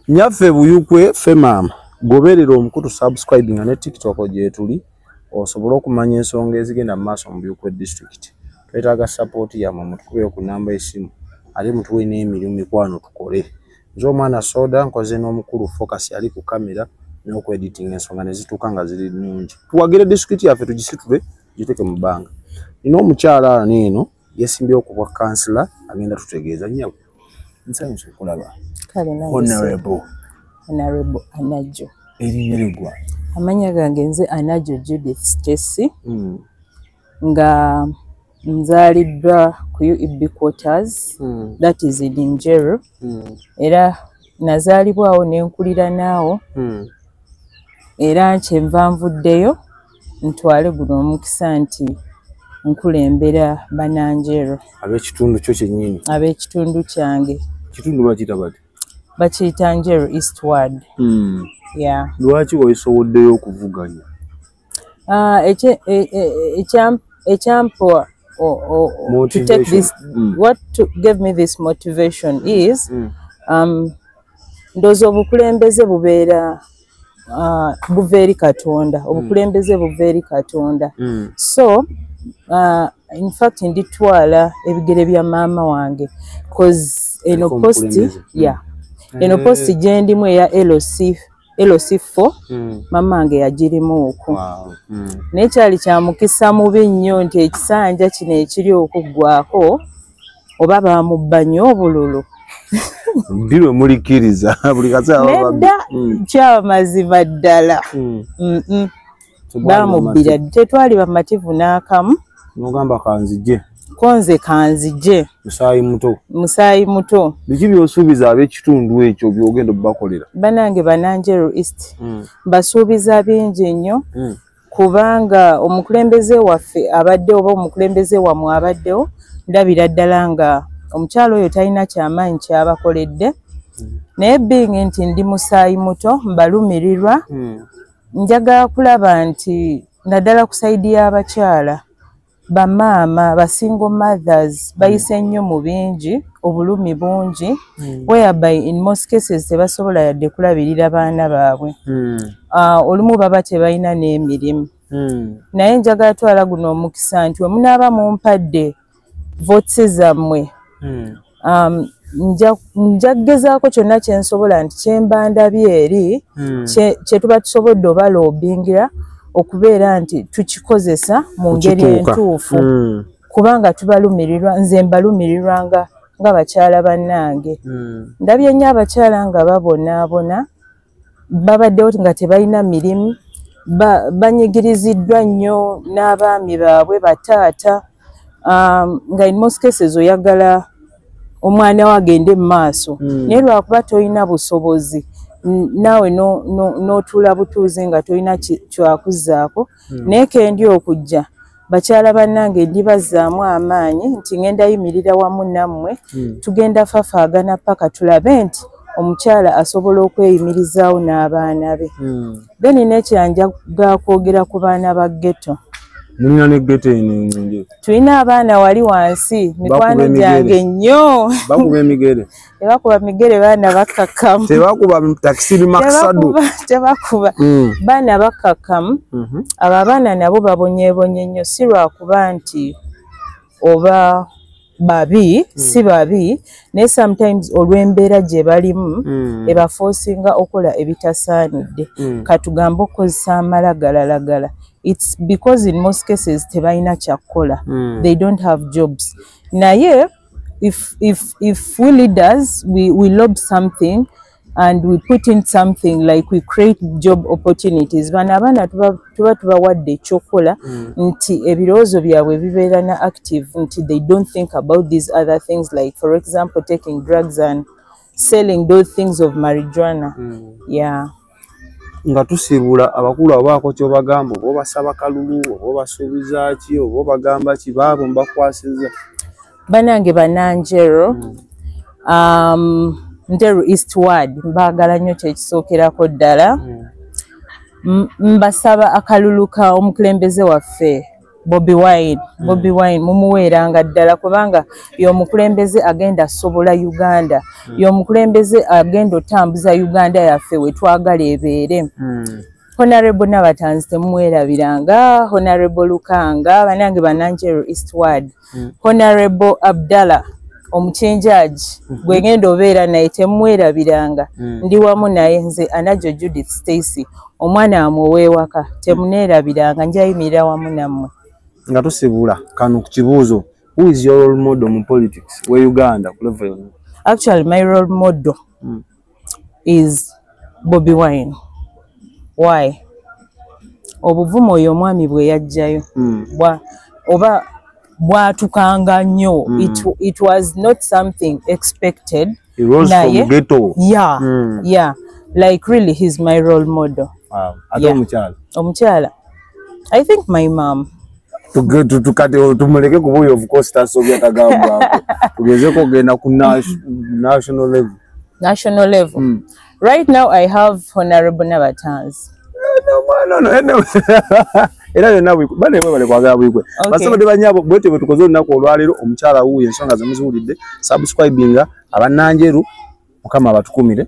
nyaffe buyukwe fe maama goberera omukutu subscribe nga ne tiktok gyetuli osobole okumanya ensonga ezigenda mu maaso mu buyukwe district twetaaga support yamwe mutukubeyo ku namba esimu ate mutuwe n'emirimu mikwano tukole nze omwana soda nkoze n'omukulu focus ali ku kamera n'okweditinga ensonga ne zituuka nga ziri nnungi tuwagire district yaffe tugisitule giteeke mu bbanga nina omukyala ano eno yesimbyewo ku bwa kansila agenda tutegeeza nyabo nsanyusa okulaba honorable honorable anajo erinyeregwa amanya gange nze anajo judith stessy mm. nga nzaliddwa ku ueb quarters mm. that is in injeru mm. era nazaalibwawo nenkulira naawo mm. era kyenva nvuddeyo ntwale guno omukisa nti nkulembera bananjero abekitundu kyo kyenyini abekitundu kyange kitundu bakiyita bati bakiyita njero eastward hmm. ya lwaki waisowoddeyo okuvuganya ah, e, e, e, ekyampoa to take this hmm. what gave me this motivation is hmm. um, ndooza obukulembeze bubeera uh, buva eri katonda hmm. obukulembeze buva eri katonda mm. so uh, infact nditwala ebigere bya maama wange bcause eno posti hmm. ya eh. eno posti gyendimu eya loc loc fo hmm. maama wange yagirimu oku naye kyali kyamukisa mubi nnyo nti ekisanja kino ekiri okuggwako oba bamubba nyo obululu ndi lwe mulikiriza buli kaseera mm. kyaba mazima ddala mm. bamubbira tetwali bamativu n'akamu nogamba kanzije konze kanzije musaayi muto musaayi muto biki byosuubiza ab'ekitundu ekyo byogenda obubakolera banange bananjeru east mm. basuubiza bingi nnyo kubanga omukulembeze waffe abadde oba omukulembeze wamwe abaddewo ndabira ddala nga omukyalo oyo talina kyamaanyi kyabakoledde naye being nti ndi musaayi muto mbalumirirwa hmm. njaga kulaba nti naddala ku saidi y'abakyala bamaama ba single mothers hmm. bayise nnyo mu bingi obulumi bungi hmm. whereby in most cases tebasobola yadde kulabirira baana baabwe hmm. ah, olumu baba tebalina n'emirimu naye njagala twala guno omukisa nti wemunaaba mumpadde votse zammwe um, nja kugezaako kyonna kyensobola nti kyemba ndabye eri hmm. kyetuba tusobodde oba loobingira okubeera nti tukikozesa mu ngeri entuufu hmm. kubanga tubalumirirwa nze mbalumirirwa nga nga bakyala bannange hmm. ndabye nnyo abakyala nga babonaabona babaddewo nga tebalina mirimu banyigiriziddwa nnyo n'abaami baabwe bataata um, nga in most cases oyagala omwana wo agende mu maaso hmm. naye lwakuba tolina busobozi naawe n'otuula butuuzi nga tolina kyakuzaako hmm. naye kendi okujja bakyala bannange ndibazzaamu amaanyi nti ngenda yimirira wamu nammwe hmm. tugenda fafaagana paka tulabe nti omukyala asobola okweyimirizaawo n'abaana be hmm. then nekyanja gakwogera ku baana ba ghetto mulina ne ghetto eno enungi tulina abaana wali wansi mikwano gyange nnyo bakuba emigere tebakuba migere baana bakakkamu tebakuba takisi bimakisadu tebakuba mm. baana bakakkamu mhm. abo abaana nabo babonyebonye nnyo si lwakuba nti oba babi mm. si babi naye sometimes olw'embeera gye balimu mm. ebafoosinga okola ebitasaanidde mm. katugambe okukozesa amala galalagala its because in most cases tebalina kyakukola mm. they don't have jobs naye if if if we leaders we we lob something and we put in something like we create job opportunities bana abana tuba tuba tuba what they chokola mm. nti ebirozo byabwe bibera na active nti they don't think about these other things like for example taking drugs and selling those things of marijuana mm. yeah nga tusibula abakulu abaako kyobagamba oba obasaba kalulu oba obasuubiza ki oba obagamba ki baabo mbakwasiza banange bananjero mm. um, nteru eastward mbaagala nnyo kyekisookerako ddala mm. mbasaba akalulu ka omukulembeze waffe bobi wine hmm. bobi wine mumuweeranga ddala kubanga yomukulembeze agenda asobola uganda hmm. yomukulembeze agenda otambuza uganda yaffe wetwagala ebeere hmm. honarebo nabatanzi temumwerabiranga honarebo lukanga banange bananjero eastward mm. honorable abdallah omukinjaaji mm -hmm. gwegenda obeera naye temwerabiranga mm. ndi wamu naye nze anajo judith stacy omwana wamwe owewaka temuneerabiranga njayimirira wamu nammwe nga tusibula kano ku kibuuzo who is your role model mu politics we uganda ku level actually my role model mm. is bobi wine why obuvuma oyo omwami bwe yajjayo mm. oba bwatukanga nnyo mm. it, it was not something expected naye ya mm. ya like really he's my role model wow. yeah. omukyala i think my mom tukati tumuleke kuba oyo ofukosi tasobya tagambwako tugezeko ogenda ku national level national level mm. right now i have honorable nabatanzi era yonna banewebale kwagala bwigwe basabadde banyabo bwetyo bwetukoze olunaku olwaleero omukyala wuuyo ensonga zemuziwulidde subscribinga abananjeru mukama abatukumire